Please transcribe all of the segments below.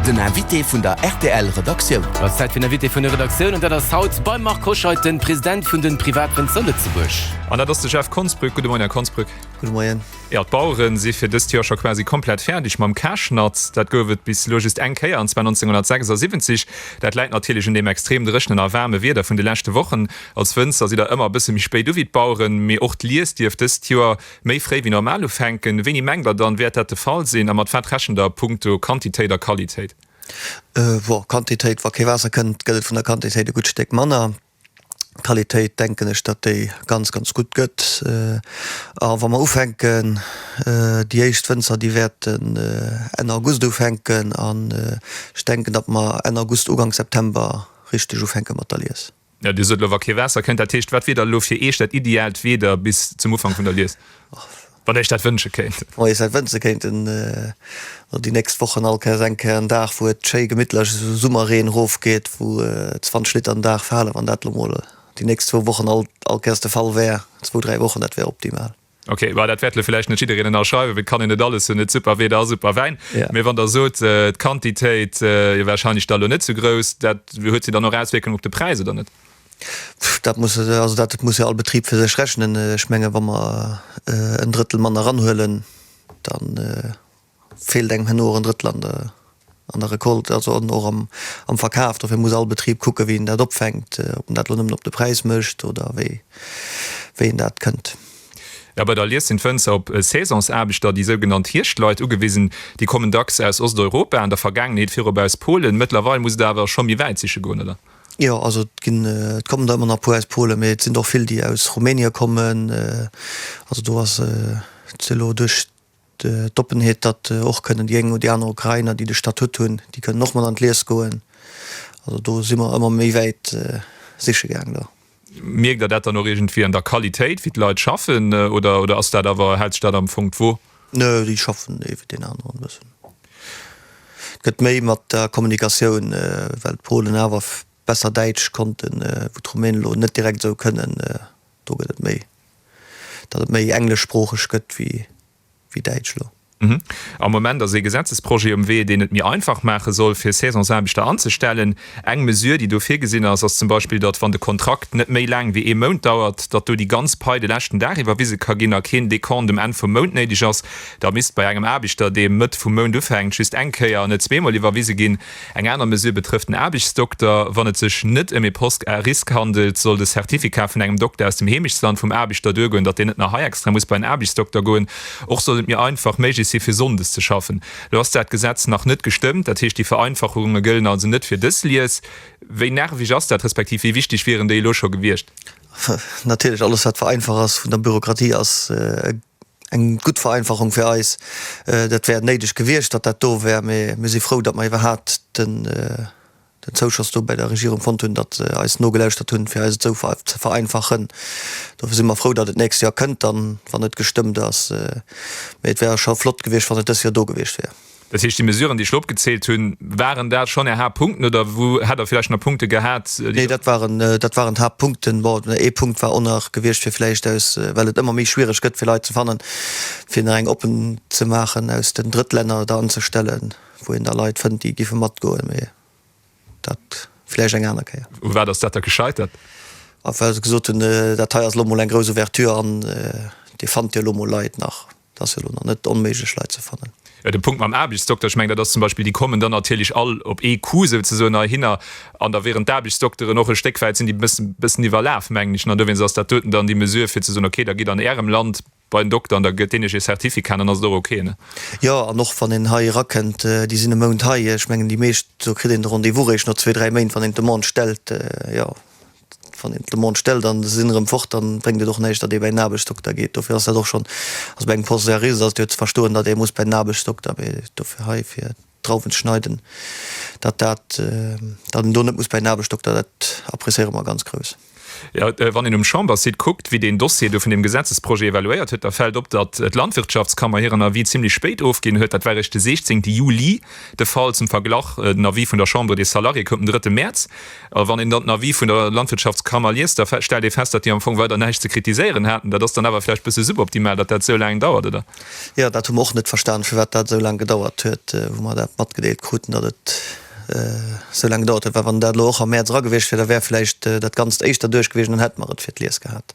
Den Invité vun der rtl Redaktioun. Ass Zäit fir den Invité vun der Redaktioun an dat ass haut beim Marc Hoscheid den President vun den Privatrënn zou Lëtzebuerg. An dat ass de Jeff Konsbrück. Gudde Moien, Här Konsbrück. Gudde Moien. Jo, d'Baueren si fir dëst Joer scho quasi komplett fäerdeg mam Käschnatt. Dat gouf et bis elo just eng Kéier, an zwar 1976. Dat läit natierlech un deem extrem dréchnen a waarme Wieder vun de leschte Wochen. Als Wënzer sidd der ëmmer e bësse méi spéit u wéi d'Baueren, mee och d'Lies dierft dëst Joer Méi fréi wéi normal ufänken? Wéini mengt der dann, wäert dat de Fall sinn a mat wat rechent der a punkto Quantitéit a Qualitéit? Woh, Quantitéit, wa kee Waasser kënnt, gëtt et vun der Quantitéit e gutt Stéck manner. Qualitéit denken ech, datt déi ganz, ganz gutt gëtt. A wa mer ufänken, déi éischt Wënzer, déi wäerten Enn August ufänken an ech denken, datt mer Enn August, Ugank September richteg ufänke mat der Lies. Ja, Dir sot elo, wa kee Waasser kënnt. Dat heescht, wat wier da elo fir Iech dat ideaalt Wieder bis zum Ufank vun der Lies, wann Dir Iech dat wënsche kéint? Wa mir Iech dat wënsche kéinten, elo déi nächst Wochen all Kéiers eng Kéier en Dag, wou et schéi gemittlech esou Summerreen erofgeet, wou 20 Liter den Dag falen, wann dat elo emol déi nächst zwou Wochen all Kéiers de Fall wär, zwou, dräi Wochen, dat wär optimal. Ok, well dat wäert elo villäicht net jiddereen ënnerschreiwen, wéi kann een et alles hunn, net super Wieder a super Wäin. Ja. Mee wann Der sot, d'Quantitéit wier warscheinlech da elo net sou grouss, dat huet jo dann och Auswierkungen op de Präis, oder net? Dat muss, also dat muss jo all Betrib fir sech rechnen. Ech menge wa mer en Drëttel mann eranhuelen, dann. Feelt engem herno och en Drëttland an der Recolte, also an och am Verkaf. Dofir muss all Betrib kucken, wéi en dat opfänkt, ob en dat elo nëmmen op de Präis mécht oder wéi een dat kënnt. A bei der Lies sinn d'Wënzer op Saisonsaarbechter, déi sougenannt Hierscht-Leit, ugewisen. Déi kommen dacks aus Osteuropa, an der Vergaangenheet virop aus Polen. Mëttlerweil muss et awer scho méi wäit siche goen, oder? Jo, also et ginn, et kommen der ëmmer nach e puer aus Polen, mee et sinn der och vill, déi aus Rumänien kommen. Also do ass et elo duerch. D'Oppenheet, datt och kënnen déi eng oder déi aner Ukrainer, déi de Statut hunn, déi kënnen och mat an d'Lies goen. Also do si mer ëmmer méi wäit siche gaang do. Mierkt Der dat dann och iergendwéi an der Qualitéit, wéi d'Leit schaffen, oder, oder ass dat awer, hält sech dat am Fong d'Wo? Nö, déi schaffen ee wéi deen aneren e bëssen. Et gëtt méi mat der Kommunikatioun, well d'Polen awer besser Däitsch konnten, wou d'Rumänen elo net direkt esou kënnen. Do gëtt et méi, datt et méi engleschsproocheg gëtt wéi däitsch elo. Am Moment ass ee Gesetzesprojet um Wee, deen et méi einfach maache soll, fir Saisonsaarbechter anzestellen. Eng Mesür, déi do virgesinn ass, ass zum Beispill, datt, wann de Kontrakt net méi laang wéi ee Mount dauert, datt do déi ganz Pai de leschten Dag iwwerwise ka ginn a keen Dekont um Enn vum Mount néideg ass. Da misst bei engem Aarbechter, dee Mëtt vum Mount ufänkt, just eng Kéier an net zweemol iwwerwise ginn. Eng aner Mesure betrëfft den Aarbechtsdokter. Wann et sech net ëm ee Poste à risque handelt, soll de Certificat vun engem Dokter aus dem Heemechtsland vum Aarbechter duergoen, datt deen net nach hei extra muss bei en Aarbechtsdokter goen. Och soll et méi einfach méiglech si fir sonndes ze schaffen. Elo ass dat Gesetz nach net gestëmmt, dat heescht déi Vereinfachunge gëllen also net fir dës Lies. Wéi nerveg ass dat, respektiv wéi wichteg wieren déi elo scho gewiescht? Natierlech, alles wat vereinfach ass vun der Bürokratie ass e. eng gutt Vereinfachung fir eis. Dat wär néideg gewiescht, datt dat do wär, mee mir si frou, datt mer iwwerhaapt den Zouschoss do bäi der Regierung fonnt hunn, datt se eis nogelauschtert hunn, fir eis et esou ze vereinfachen. Dofir si mer frou, datt et d'nächst Joer kënnt dann, wann et gestëmmt ass. Mee et wär scho flott gewiescht, wann et dës Joer do gewiescht wär. Dat heescht, déi Mesuren, déi ech elo opgezählt hunn, waren dat schonn Är Haaptpunkten, oder wou hätt Der vläicht nach Punkte gehat, déi. Nee, dat waren, dat waren d'Haaptpunkten. Bon, ee Punkt war och nach gewiescht, fir vläicht aus, well et ëmmer méi schwierig gëtt, fir Leit ze fannen, fir nach eng oppen ze maachen, aus den Drëttlänner da anzustellen, wou een da Leit fënnt, déi géife matgoen. Mee dat vläicht eng aner Kéier. U wat ass dat da gescheitert? A well se gesot hunn, dat hei ass elo emol eng grouss Ouverture an Dir fannt jo elo emol Leit nach. Et ass jo elo nach net onméiglech, Leit ze fannen. De Punkt mam Aarbechtsdokter, ech mengen, dat ass zum Beispill, déi kommen dann natierlech all op ee Coup souzesoen heihinner. An da wieren d'Aarbechtsdokteren och e Stéck wäit, sinn déi e bësse, bëssen iwwerlaf, mengen ech. An dowéinst ass dat doten dann déi Mesure, fir ze soen, okay, da gitt an Ärem Land bei en Dokter an da gëtt deen iech ee Certificat an dann ass et och okay, ne? Jo, an och wann een hei erakënnt, déi sinn e Mount hei. Ech mengen, déi meescht, do kritt een de Rendez-vous réischt no zwee, dräi Méint, wann een d'Demande stellt, jo. Wann een d'Demande stellt an se sinn erëm fort, da bréngt et och näischt, datt ee bei den Aarbechtsdokter geet. Dofir ass dat och schonn, also bei engem Poste de riz, ass et jo ze verstoen, datt ee muss bei den Aarbechtsdokter. Mee dofir hei fir d'Drauwen ze schneiden, datt dat, datt een do net muss bei den Aarbechtsdokter, dat appréciéiere mer ganz grouss. Jo, wann een um Chambersite kuckt, wéi deen Dossier do vun deem Gesetzesprojet evaluéiert huet, da fält op, datt d'Landwirtschaftskammer hiren Avis zimlech spéit ofginn huet. Dat war eréischt de 16 Juli de Fall. Zum Verglach, den Avis vun der Chambre des Salariés koum den 3 Mäerz. A wann een dann den Avis vun der Landwirtschaftskammer liest, da stellt ee fest, datt déi am Fong weider näischt ze kritiséieren haten. Dat ass dann awer vläicht e bësse suboptimal, datt dat esou laang dauert, oder? Jo, dat hu mer och net verstanen, firwat dat esou laang gedauert huet. Wou mer dat matgedeelt kruten, datt et esou laang gedauert huet, well wann dat elo och am Mäerz era gewiescht wier, da wär vläicht dat Ganzt éischter duerch gewiescht an dann hätte mer et fir d'Lies gehat.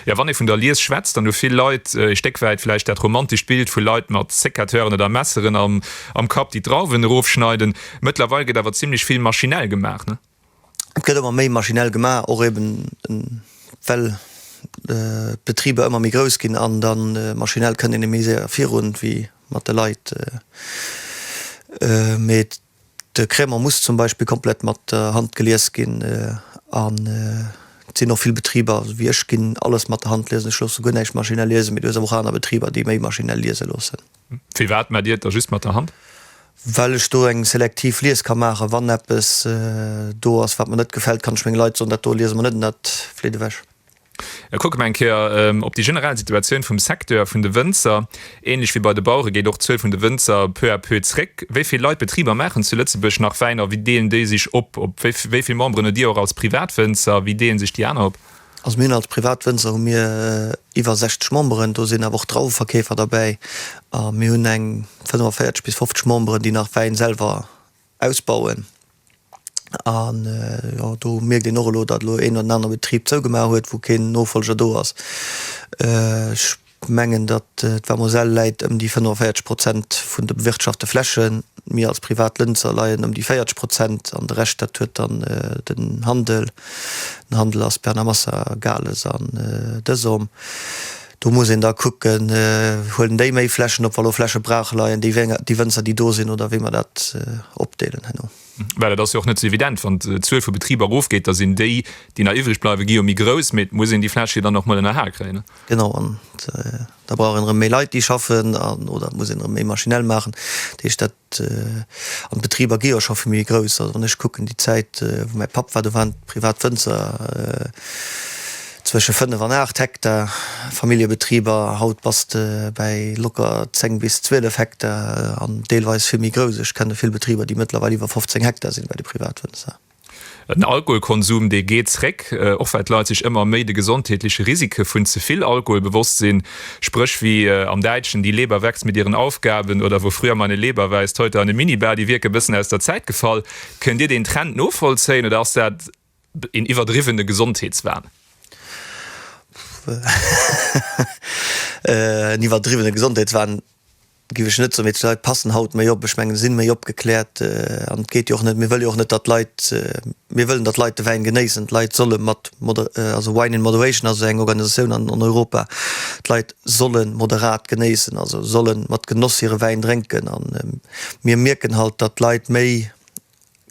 Jo, wann ee vun der Lies schwätzt, dann hu vill Leit ee Stéck wäit vläicht dat romantescht Bild vu Leit mat Sécateuren oder Messeren am Kapp, déi d'Drauwen erofschneiden. Mëttlerweil gëtt awer zimmlech vill maschinell gemaach, ne? Et gëtt ëmmer méi maschinell gemaach, och eben well d'Betriber ëmmer méi grouss ginn an da maschinell kënnt een e méi séier virun wéi mat de Leit. Mee et. De Krämer muss zum Beispill komplett mat der Hand gelies ginn an et sinn och vill Betriber, esou wéi ech, ginn alles mat der Hand liesen. Ech loosse guer näischt maschinell liesen, mee du hues awer och aner Betriber, déi méi maschinell liese loossen. Firwat maacht Dir et da just mat der Hand? Well ech do eng selektiv Lies ka maachen. Wann eppes do ass, wat mer net gefält, kann ech menge Leit soen, dat do liese mer net an dat fleet ewech. E kucke mer eng Kéier op déi generell Situatioun vum Secteur vun de Wënzer. Ähnlech wéi bei de Bauere geet och d'Zuel vun de Wënzer peu à peu zréck. Wéi vill Leit, Betriber maachen zu Lëtzebuerg nach Wäin a wéi deelen déi sech op? Wéi vill Memberen hutt Dir och als Privatwënzer a wéi deelen sech déi aner op? Also mir hunn als Privatwënzer hu mir iwwer 60 Memberen, do sinn awer och Drauweverkeefer derbäi. A mir hunn eng 45 bis 50 Memberen, déi nach Wäin selwer ausbauen an jo do mierkt een och elo datt elo een oder den anere Betrib zougemaach huet wou keen Nofolger do ass. Ech mengen datt d'Vamoselle läit ëm déi 45 Prozent vun de bewirtschafte Flächen, mir als privat Lënzer leien ëm déi 40 Prozent an de Rescht dat huet dann den Handel, den Handel ass Bernamassa, Gales an Dësom. Do muss een da kucken, Huelen déi méi Flächen op, wa lo Fläche brach leien, déi Wënzer, déi do sinn, oder wéi mer dat opdeelen herno? Well et ass jo och net esou evident, Wann d'Zuel vu Betriber erofgeet, da sinn déi, déi nach iwwreg bleiwen, gi jo méi grouss. Mee et muss een déi Fläche jo dann och mol ënnerhal kréien. Genau, an da brauch een erëm méi Leit, déi schaffen, oder et muss een erëm méi maschinell maachen. Dat heescht, dat An d'Betriber gi jo scho vill méi grouss. Also wann ech kucken, déi Zäit, wou mäi Papp war, do waren privat Wënzer zwësche fënnef an aacht Hektar Familljebetriber. Haut bass de bäi locker zéng bis zwielef Hektar an deelweis vill méi grouss. Ech kenne vill Betriber, déi mëttlerweil iwwer 15 Hektar sinn bei de Privatwënzer. Den Alkoholkonsum, dee geet zréck, och well d'Leit sech ëmmer méi de gesondheetleche Risike vun ze vill Alkohol bewosst sinn. Spréch wéi am Däitschen, Die Leber wächst mit ihren Aufgaben oder Wo früher meine Leber weist, heute eine Minibar, déi wierken e bëssen aus der Zäit gefall. Kënnt Dir deen Trend novollzéien oder ass dat een iwwerdriwwene Gesondheetswahn? Pff, en iwwerdriwwene Gesondheetswahn. Gif ech net soen, mee d'Leit passen haut méi op, ech mengen sinn méi opgeklärt an et geet jo och net, mir wëllen jo och net dat d'Leit, mir wëllen dat d'Leit de Wäin genéissen, d'Leit solle mat moder, also Wine in Moderation ass esou eng Organisatioun an an Europa, d'Leit solle moderat genéissen, also solle mat Genoss hire Wäin drénken an mir mierken halt, dat d'Leit méi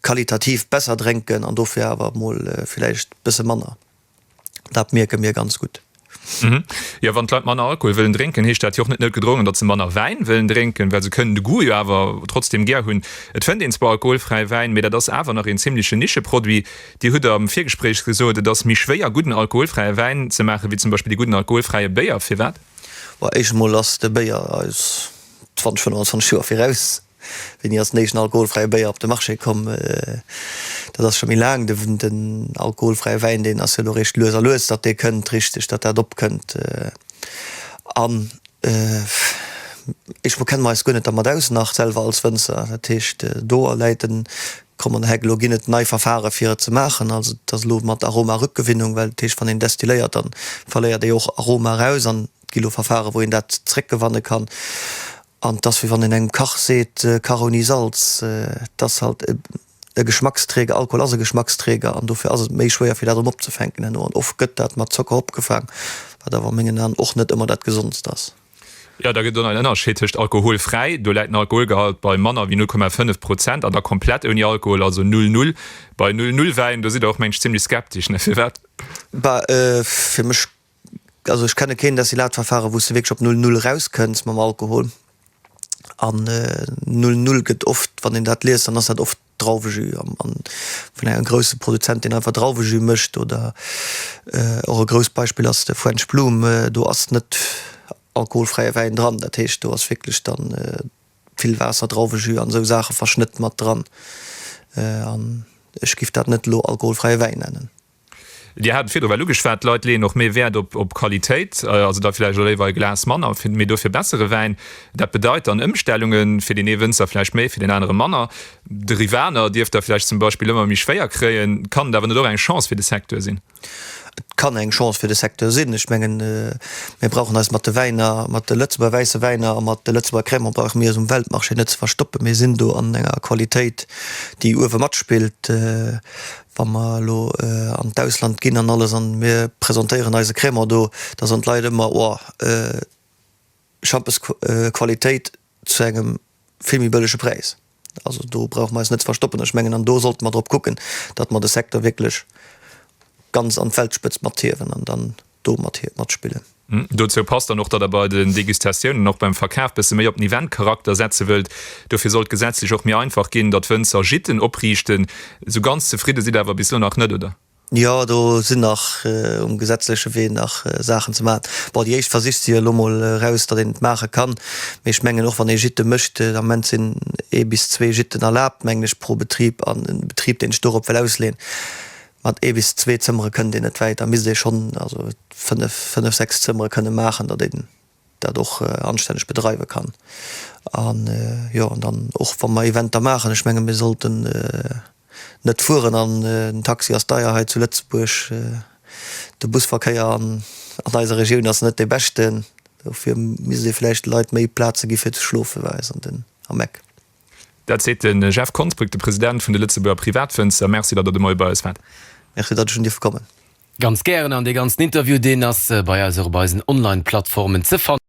qualitativ besser drénken an dofir awer mol villäicht bësse manner. dat mierke mir ganz gutt. Mhm. Jo, wann d'Leit manner Alkohol wëllen drénken, heescht dat jo och net net gedrongen, datt se manner Wäin wëllen drénken, well se kënnen de Goût jo awer trotzdeem gär hunn. Et fënnt een zwar alkoholfräi Wäin, mee dat ass awer nach een zimleche Nischeproduit. Dir hutt am Virgespréich gesot, et ass méi schwéier gudden alkoholfräie Wäin ze maachen, wéi zum Beispill dee gudden alkoholfräie Béier. Firwat? Well éischt emol ass de Béier eis 20, 25 Joer viraus. Wéini ass den éischten alkoholfräie Béier op de Marché komm? Dat ass scho méi laang. Den alkoholfräie Wäin, deen ass jo elo eréischt lues a lues, datt dee kënnt, richteg, datt dat opkënnt. An ech bekenne mer eis guer net dermat aus nach selwer als Wënzer. Dat heescht, do läit en kommenden Heck. Elo ginn et nei Verfahre fir et ze maachen. Also et ass elo mat Aromarückgewinnung, well dat heescht, wann een destilléiert, da verléiert ee och Aroma eraus. An et gi elo Verfahre wou een dat zréckgewanne kann. An et ass wéi wann een engem Kach seet, Kach ouni Salz. Et ass halt e Geschmacksträger, Alkohol ass e Geschmacksträger an dofir ass et méi schwéier fir dat erëm opzefänken herno. An oft gëtt dat mat Zocker opgefaang, wat awer a mengen Aen och net ëmmer dat Gesondst ass. Jo, da gëtt et och nach en Ënnerscheed tëscht alkoholfräi, do läit den Alkoholgehalt bei manner wéi 0,5 Prozent, an da komplett ouni Alkohol, also null null. Bei null null Wäin, do sidd Der och mengen ech zimlech skeptesch, ne? Firwat? Bah, fir mech Also ech kenne keen Destillat Verfahren wou s de wierklech op Null Null eraus kënns mam Alkohol an Null Null gëtt oft, wann een dat liest, dann ass dat oft Drauwejus am an vun engem grousse Produzent deen einfach Drauwejus mécht oder och e grousst Beispill ass de French Bloom, do ass net alkoholfräie Wäin dran, dat heescht do ass wierklech dann vill Waasser, Drauwejus an esou Saache verschnëtt mat dran an ech giff dat net elo alkoholfräie Wäin nennen. Dir hat et virdrun ugeschwat, d'Leit leeën och méi Wäert op Qualitéit, also da vläicht och léiwer e Glas manner, mee dofir bessere Wäin. Dat bedeit dann Ëmstellunge fir deen ee Wënzer vläicht méi, fir deen anere manner. De Rivaner dierft Der vläicht zum Beispill ëmmer méi schwéier kréien. Kann et awer net och eng Chance fir de Secteur sinn? Et kann eng Chance fir de Secteur sinn. Ech mengen, mir brauchen eis mat de Wäiner, mat de Lëtzebuerger wäisse Wäiner a mat de Lëtzebuerger Crémant brauche mir eis um Weltmarché net ze verstoppen. Mir sinn do an enger Qualitéit, déi uewe matspillt. Wa mer elo an d'Ausland ginn an alles an mir presentéieren eise Crémant do, da soen d'Leit ëmmer, Oh, Schampesqualitéit zu engem vill méi bëllege Präis. Also do brauche mer eis net ze verstoppen. Ech mengen, an do sollte mer drop kucken, datt mer de Secteur wierklech ganz an d'Weltspëtzt mathiewen an dann do mat hiert matspillen. Dozou passt dann och, datt Der bei den Degustatiounen, och beim Verkaf, bësse méi op den Eventcharakter setze wëllt. Dofir soll d'gesetzlech och méi einfach ginn, datt Wënzer Gîten opriichten. Esou ganz zefridde sidd Der awer bis elo nach net, oder? Jo, do sinn nach um gesetzleche Wee nach Saachen ze maachen. Bon, déi éischt Versich si jo elo mol eraus, datt een et maache kann. Mee ech mengen, och wann ee Gîte mécht, am Moment sinn ee bis zwee Gîten erlaabt, mengen ech, pro Betrib. An e Betrib, deen sech dorop wëll ausleeën, Mat ee bis zwee Zëmmere kënnt een net wäit, da misst ee schonn also fënnef, fënnef, sechs Zëmmere kënne maachen, datt een dat och anstänneg bedreiwe kann. An jo, an dann och wa mer Eventer maachen, ech menge mir sollten net fueren an den Taxi ass deier hei zu Lëtzebuerg, de Busverkéier an eiser Regioun ass net dee beschten, dofir misst ee vläicht de Leit méi Plaze gi fir ze schlofen, war eis an den am Eck. Dat seet de Jeff Konsbrück, de President vun de Lëtzebuerger Privatfënster. Merci, datt Der de Moie bei eis waart. Merci, datt ech hunn dierfe kommen. Ganz gären, an dee ganzen Interview, deen ass bei eis och op eisen Online-Plattformen ze fannen.